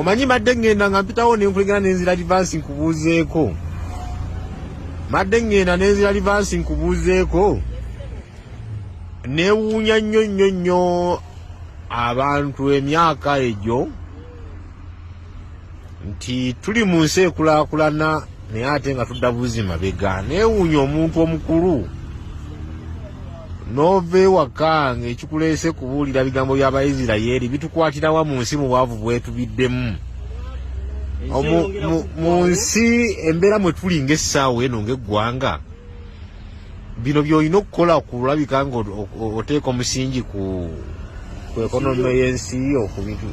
omanyi madde ngenda nga mpitawo nenkulengera nenzira livansi nkubuuzeeko madde ngenda nenzira livansi nkubuuzeeko newuunya nnyo nnyo nnyo abantu emyaka egyo nti tuli mu nsi ekulakulana naye ate nga tudda buzi mabega newuunya omuntu omukulu nova ewaka nga ekikuleese kubuulira bigambo bya baisirayeeri bitukwatirawa mu nsi mu bwavu bwetubiddemu mu nsi embeera mwe tuli ngaessaawa eno ngaeggwanga bino byolina okukola kulabika nga oteeka omusingi ku ekonome y'ensi yo ku bintu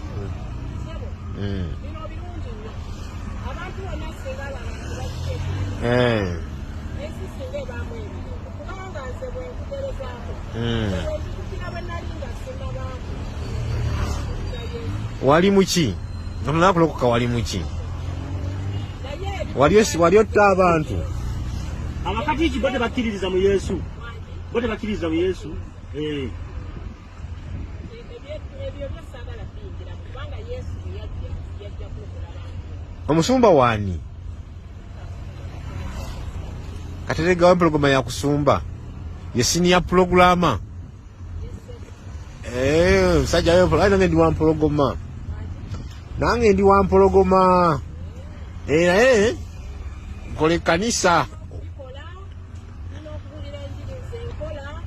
hmm. eh. hmm. wali muki omunakulokoka wali muki wali otta abantu abakatiki bo tebakkiririza mu yesu bo tebakkiririza mu yesu eh. omusumba waani kateregawo empologoma yakusumba ye siniya pulogulama Eh, musajja yo mpolo nange ndi wampologoma nange ndi wampologoma eh, naye nkola ekkanisa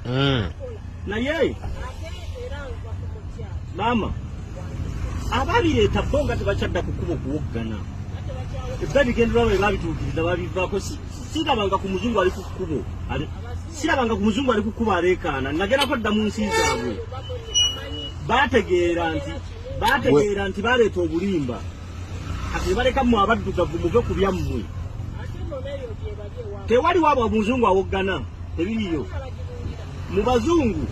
hmm. naye maama ababireeta bo nga tebakyadda kukuba okuwoggana ebba bigenderwa bwe babituukiriza babivaako sirabanga ku muzungu ali ku kkubo sirabanga ku muzungu ali kukuba areekaana nagerako dda mu nsi zaabwe bategeera nti bategeera nti baleeta obulimba kati nebaleka mu abaddugavu muve ku byammwe tewali waabwe omuzungu awoggana tebiriyo mu bazungu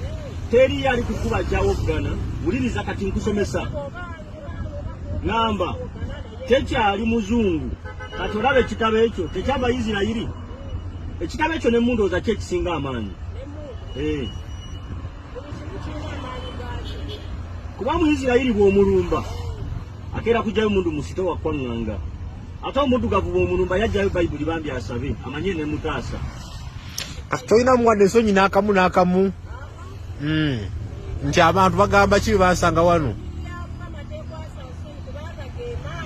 teriyo ali kukuba kyawoggana wuliriza kati nkusomesa ŋŋamba tekyali muzungu kati olaba ekitabo ekyo tekyava isirayiri ekitabo ekyo ne mundooza ki ekisinga amaanyi eh. kuba mu isirayiri bw'omulumba akeera kujjayo mundu musito wakwaŋŋanga ate omuddugavu bw'omulumba yajjayo bayibuli bambi asabe amanye ne mutaasa tolina muwadde ensonyi n'akamu n'akamu mm. nti abantu bagamba ki bebansanga wano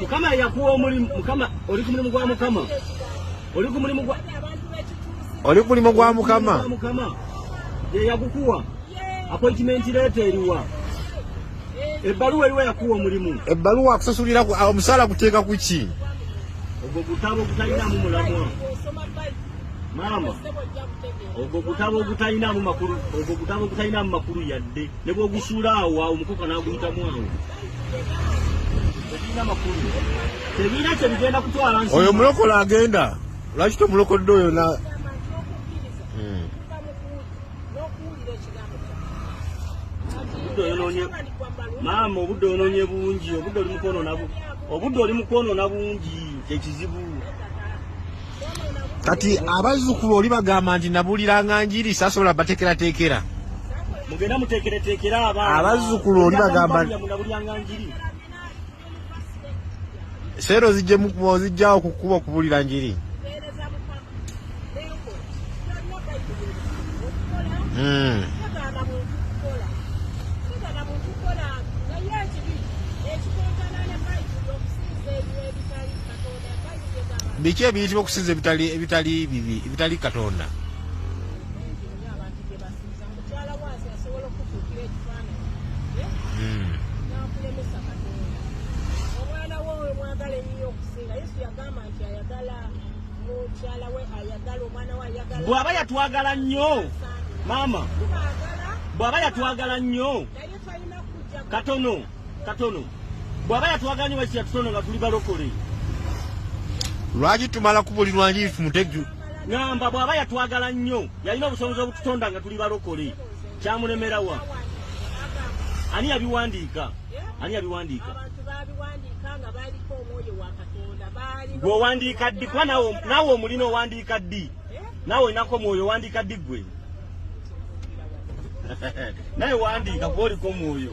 mukama yakuwa omulimu mukama oli ku mulimu gwa mukama oli ku mulimu gwa oli ku mulimu gwa mukama mukama yeyagukuwa appointment leeta eriwa ebbaluwa eriwa yakuwa omulimu ebbaluwa akusasulira omusaala kuteeka ku ki ogwo gutabo gutalinamu mulamwa maama ogwo gutabo ogutalinamu makulu ogwo gutabo ogutalinamu makulu yadde ne bwogusuula awo awo omukoka n'aguyitamu awo tegirina makulu tegirina kye bigenda kutwala nsi oyo mulokola agenda lwaki tomulokodde oyo na hmm. maama obudde ononye bungi obudde oli mukwonona bungi kyekizibu kati abazzukulu oli bagamba nti nabuuliranga njiri sasobola bateekerateekera mugenda muteekereteekera abaana abazzukulu oli bagamba seero zijjawo kukuba okubuulira njiri hmm. biki ebiyitibwa okusinza ebitali ebitali bibi ebitali katonda bwaba yatwagala nnyo maama bwaba yatwagala nnyo katono katono bwaba yatwagala nyo lwaki yatutono nga tuli balokole lwaki tumala kubulirwa nji tumuteju ngamba bwaba yatwagala nnyo yalina obusobozi obututonda nga tuli balokole kyamulemerawa ani yabiwandiika ani yabiwandiika gweowandiika ddi kuba nawe omulina owandiika ddi eh? nawe olinako omwoyo owandiika ddi gwe naye wandiika kwoliko mwoyo